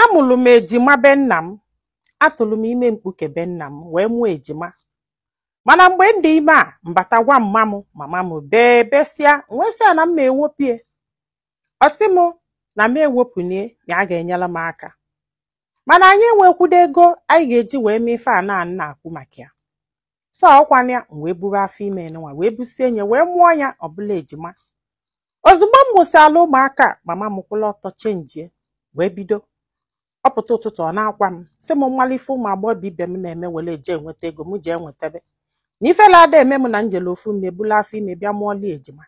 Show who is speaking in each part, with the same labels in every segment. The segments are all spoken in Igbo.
Speaker 1: Amụlụ m ejima be nna m, atụrụ m ime mkpuke be nna m wee mụọ ejima. Mana mgbe m dị ime a, m bata gwa mma m, mama m bee besịa, m wee sị ya na m ma-ewopụ ya. Ọ sị m na m ewopụna ya na a ga-enyere m aka. Mana anyị enwekwudo ego anyị ga-eji wee mee ife a na-ekwu maka ya. so ọkwana ya m wee buru afọ ime nwa wee busie nye wee mụọ ya ọ bụlụ ejima ozugbo m mụsịala ụmụaka mama m kwụlụ ọtọ chenjie wee bido ọ pụta ụtụtụ ọ na-agwa m sị m m malụ ife ụmụ agbọghọ ibe m na-eme were eje enweta ego m jee nwetabe na ifele ada eme m na m jele ofu m mee bulu afọ ime bịa mụọlụ ya ejima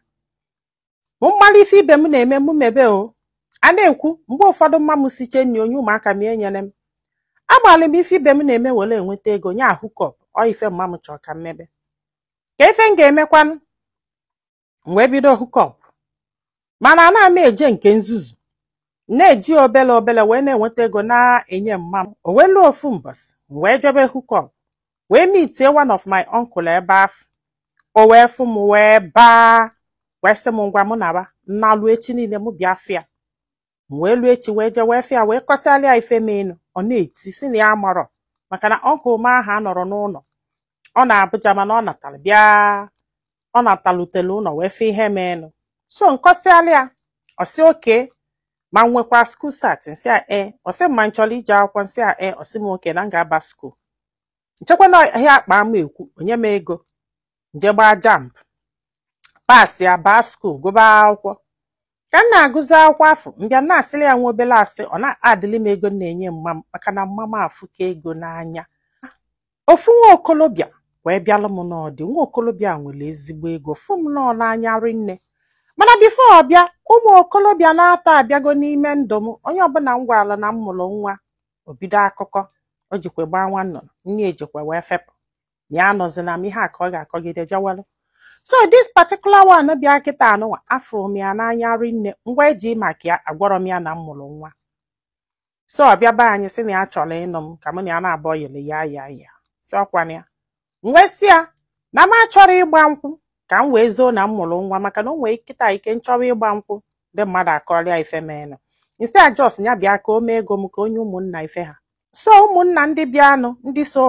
Speaker 1: m gbalị ife ibe m na-eme mụ mebe o a na-ekwu mgbe ụfọdụ mma m sichee nri o nye ụmụaka m enyerọ m agbalị m ife ibe m na-eme were enweta ego nye ya hookup ọ ife mma m chọrọ ka m mebe kee ife m ga-emekwanụ m wee bido hookup mana ana m eje nke nzuzo na-eji obele obele wee na-enweta ego na-enye mma m o wee luo ofu mbọsị m wee jebe hookup wee meetie one of my uncle ebe afụ o wee fụ m wee baa wee sị m ngwa mụ naba na o luo echi niile m bịa fụ ya m wee luo echi wee jee wee fụ ya wee kọsịalụ ya ife menụ ọ na-eti sị na ya marọ maka na uncle m ahụ anọrọ n'ụnọ ọ nọ Abuja mana ọ natara bịa ọ natalutele ụnọ wee fụ ihe meenụ so m kọsịalụ ya ọ sị okay ma m nwekwa school cert m sị ya ee ọ sị m ma m chọrọ ije akwụkwọ m sị ya ee ọ sị m okay na m ga-aba school m chekwa na ihe akpa ama ekwu o nye m ego m jee gbaa JAMB pass ya baa school gụba akwụkwọ ka m na-agụzi akwụkwọ afụ m bịa na-asịrị ya nwa obere asị ọ na-adịlị m ego m na-enye mma m maka na mma m afụka ego n'anya ofu nwa okolobịa wee bịalụ m nọọ di nwa okolobịa nwere ezigbo ego fụ m nọọ n'anya rinne mana before ọ bịa ụmụ okolobịa n'atọ abịago n'ime ndụ m onye ọbụla m gwara na m mụrụ nwa o bido akụkọ o jikwa gbaa nwa nnụnụ nne ejikwa wee fepụ ya anọzila m ihe a ka ọ ga-akọgide jewalụ so this particular one bịa kịta anụnwa afụrụ m ya n'anya rinne m wee ji maka ya agwarọ m ya na m mụrụ nwa so ọ bịa be anyị sị na ya chọrọ ịnụ m ka mụ na ya naabọ yele ya ya ya si ọkwana ya m wee sị ya na m achọrọ ịgba nkwụ ka m wee zoo na m mụrụ nwa maka na o nwee kịta ike m chọwa ịgba nkwụ ndị mmadụ akọrọ ya ife menụ instead just ya bịa ka o mee ego m ka o nye ụmụnna ife ha so ụmụnna ndị bịanụ ndị so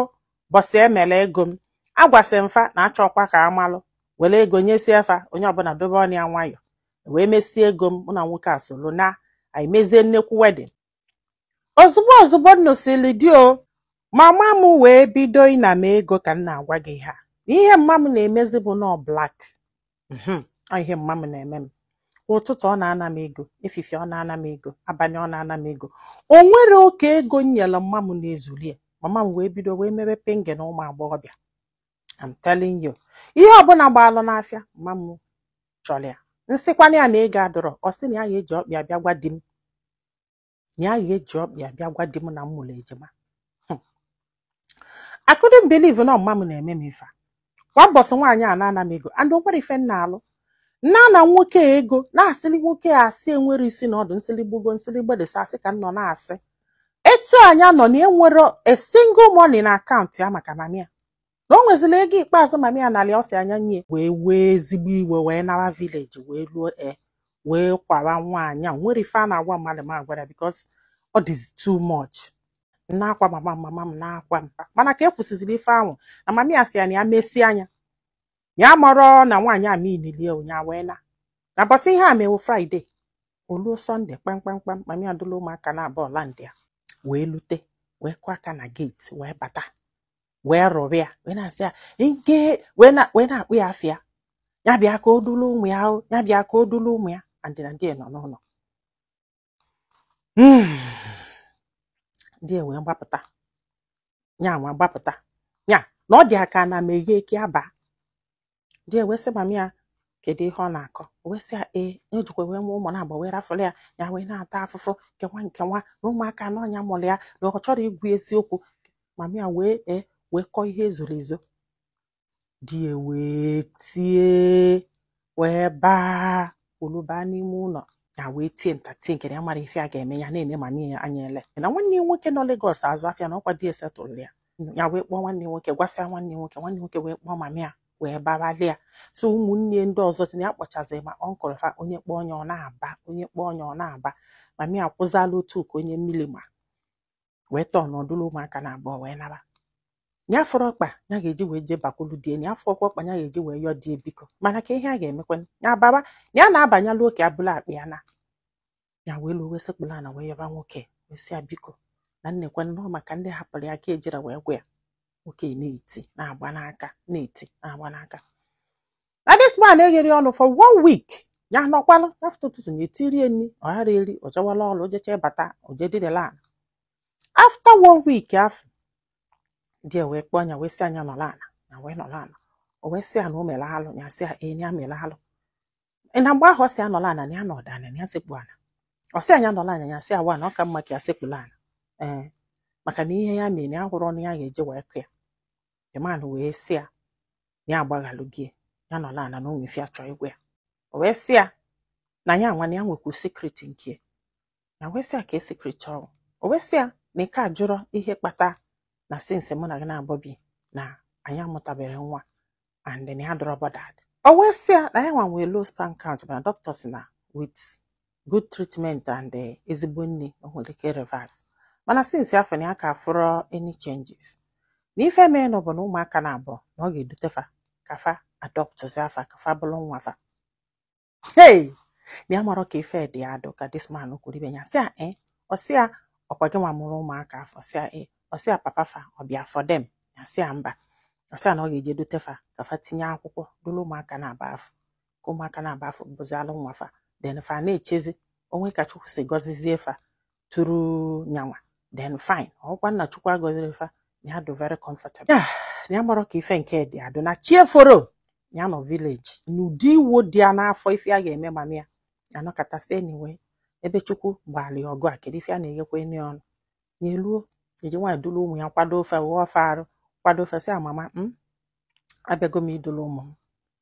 Speaker 1: bọsị e mere ego m agwasị m fa na achọkwa ka a malụ were ego nyesie fa onye ọbụla dobe ọnụ ya nwayọ e wee mesie ego m mụ na nwoke a soro naa anyị mezie nnekwu wedding ozugbo ozugbo m nụsịrị di o mama m wee bido ịna m ego ka m na-agwa gị ha ihe mma m na-emezi bụ nọọ black mhm, ọ ihe mma m na-eme m ụtụtụ ọ na-ana m ego efifie ọ na-ana m ego abanị ọ na-ana m ego o nwerọ oke ego m nyere mma m na-ezuli ya mama m wee bido wee mebe penge na ụmụ agbọghọbịa I'm telling you ihe ọbụna gbaalụ n'afịa mma m chọrọ ya m sịkwana ya na ego adịrọ ọ sị na ya ya-eji ọkpa ya bịa gwa di m ya ga-eji ọkpa ya bịa gwa di m na m mụrụ ejima Hmm. I couldn't believe na ọ mama m na-eme m ife a. kwa mbọsị nwaanyị a na-ana m ego and o nwerọ ife m na-alụ na-ana nwoke a ego na-asịli nwoke a asị enwerọ isi na ọdụ m sịlị gbugo m sịlị gbedesa asị ka m nọ na-asị etu a nya nọ nya enwerọ a single money na akaụntụ ya maka mami ya na o nwezila ego ikpeazụ mami ya nalị ọ sị nya nye wee wee ezigbo iwe wee nawa vileji wee luo e wee gwara nwaanyị a o nwerọ ife a na-agwa mmadụ m agwarọ bikos ọ dịzi too much m na-agwa mama m mama m na-agwa mpa mana ka e kwusịziri ife ahụ na mami ya sị ya na ya mesịa nya amarọ na nwaanyị a mililie nya wee naa na mbọsị ihe a me bụ fraịde o luo sọnde kpamkpamkpam mami ya dulu ụmụaka naabọ landịa wee lute wee kụọ aka na geeti wee bata wee rụrụ ya wee na-asị ya nke wee na- wee na-akpọ ya afa ya ya bịa ka o duru ụmụ ya o, ya bịa ka o duru ụmụ ya and na di ya nọ n'ụlọ Mm. di ya wee gbapụta ya nwa gbapụta ya na ọ dị ya ka ana meghe ka ya baa di ya wee sị mami ya kedu ihe ọ na-akọ O wee sị ya ee na o jikwa wee mụọ ụmụ naabọ wee rafụlụ ya ya wee na-ata afụfụ nke nwa nke nwa na ụmụaka na ọ nya mụrụ ya na ọ chọrọ ikwu eziokwu mami ya wee ee wee kọọ ihe ezoro ezo di ya wee tie wee baa olu baa n'ime ụlọ ya wee tie nta tie nke na ya amarọ ife ya ga-eme ya na-ene mami ya anya ele na nwanne ya nwoke nọ Legọs azụ afịa na ọkwa di ya setụlụ ya ya wee kpọọ nwanne ya nwoke gwasịa nwanne ya nwoke nwanne ya nwoke wee kpọọ mama ya wee babalụ ya so ụmụnne ya ndị ọzọ sị na ya kpọchaziri ma ọnkụl fa onye kpọọ onye ọ na-aba onye kpọọ onye ọ na-aba mama ya kwụzala ọtọ ka onye mmiri ma wee tọọnụ dulu ụmụaka naabọ wee naba ya afụrọ ọkpa ya ga-eji wee jee bakwulu di ya nya afụrọkwa ọkpa ya ga-eji wee yọọ di ya biko mana kee ihe a ga-emekwa ya baba ya na-abanyalụ oke abụla akpa ya na ya wee luo wee sekpulu ana wee yọba nwoke wee sị ya biko na nnekwe nnọọ maka ndị hapụrụ ya ka ejirọ wee gwa ya nwoke na-eti na-agba n'aka na-eti na-agba n'aka na this man egherọ ọnụ for one week ya nọkwalụ afta ụtụtụ ya etinye nri ọ garọ eri o jewala ọrụ o jechaa bata o je dinala afta one week afụ di ya wee kpọọ nya wee sị nya nọlụ ala nya wee nọlụ ala o wee sị ya na o mere alụ ya sị ee nya mere alụ na mgbe ahụ ọ sị ya nọlụ ala na ya nọdụ ala na ya sekpu ala ọ sị nya nọlụ ana ya sị ya waa na ọ ka mma ka ya sekpulu ala ee maka na ihe ya mere ya ahụrọ ọnụ ya ga-eji wee kọọ ya the man wee sị ya ya agbaghalụ gị ya nọlụ ana na o nwe ife ya chọ ịgwa ya o wee sị ya na ya nwa na ya nwekwu secret nke ya wee sị ya kee secret ọ wụ o wee sị ya na ị ka ajụrọ ihe kpata na since mụ na gị naabọ bi na anyị amụtaberọ nwa and then ya adịrọ bothered o wee sị ya na ya nwa nwee low sperm count mana doctors sị na with good treatment and eh, ezigbo nri o nwere ike reverse mana since afụ na ya ka afụrọ any changes na ife mee na ọ bụ na ụmụaka naabọ na ọ ga-edute fa ka fa adoptụzia fa ka fa bụrụ nwa fa hey na ya amarọ ka ife dị adụ ka this man kwuru ife a ya sị ya e ọ sị ya ọ kwa gị nwa mụrụ ụmụaka afụ sị ya e ọ sị ya papa fa ọ bịa for them ya sị ya mba ọ sị ya na ọ ga-eje edute fa ka fa tinye akwụkwọ duru ụmụaka naabọ afụ ka ụmụaka naabọ afụ bụzialụ nwa fa then fa na-echezi o nwee ka chukwu si gọzizie fa tụrụ nyanwa then fine ọ kwa na chukwu agọziri fa na ya dụ very comfortable ya na ya amarọ ka ife nke dị adụ na chi eforo ya nọ village n'ụdị iwe dị ya n'afọ ife ya ga-eme mama ya ya nọkata sị anyway ebe chukwu gbalụ ọgụ a kedu ife a na-eghekwa enyi ọnụ ya eluo eji nwaanyị duru ụmụ ya kwado ofe ghọọ ofe arụ kwado ofe sị ya mama m abịago m iduru ụmụ m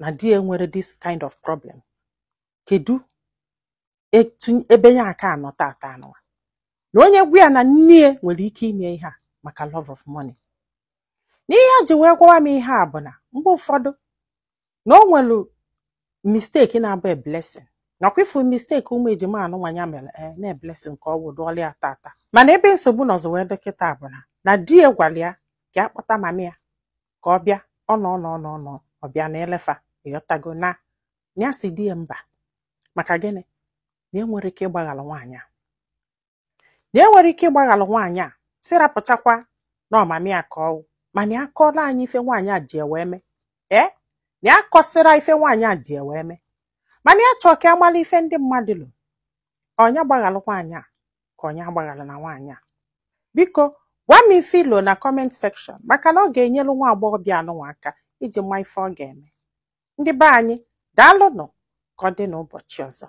Speaker 1: na di ya nwere this kind of problem kedu ebe ya aka anọ tata anụnwa na onye gwa ya na nne nwere ike ime ihe a maka love of money na ihe o ji wee gwawa m ihe a bụ na mgbe ụfọdụ na o nwere mistake na-abụ a blessing nakwa ị fụ mistake ụmụ ejima anụnwa nya mere ee eh, na blessing ka ọ wụ dụọla ya tata mana ebe nsogbu ọzọ wee dị kịta bụ na na di ya gwara ya ka akpọta mami ya ka ọ bịa ọ nọ nọ ọ bịa na-ele fa ị ghọtago na ya sị di ya mba maka gịnị na e nwere ike ịgbaghalụ nwaanyị a na e nwere ike ịgbaghalụ nwaanyị a si rapụchakwa na ọ mami ya ka ọ wụ mana ya akọọla anyị ife nwaanyị a ji wee mee ee na ya kọsịra ife nwaanyị a ji wee mee mana ya chọọ ka ya mara ife ndị mmadụ lo ọ nya gbaghalụ nwaanyị a ka ọ nya agbaghalana nwaanyị a biko gwa m ife i lo na comment section maka na ọ ga-enyelu nwa agbọghọbịa anụnwa aka iji ma ife ọ ga-eme ndị be anyị daalụnụ ka ọ dị n'ụbọchị ọzọ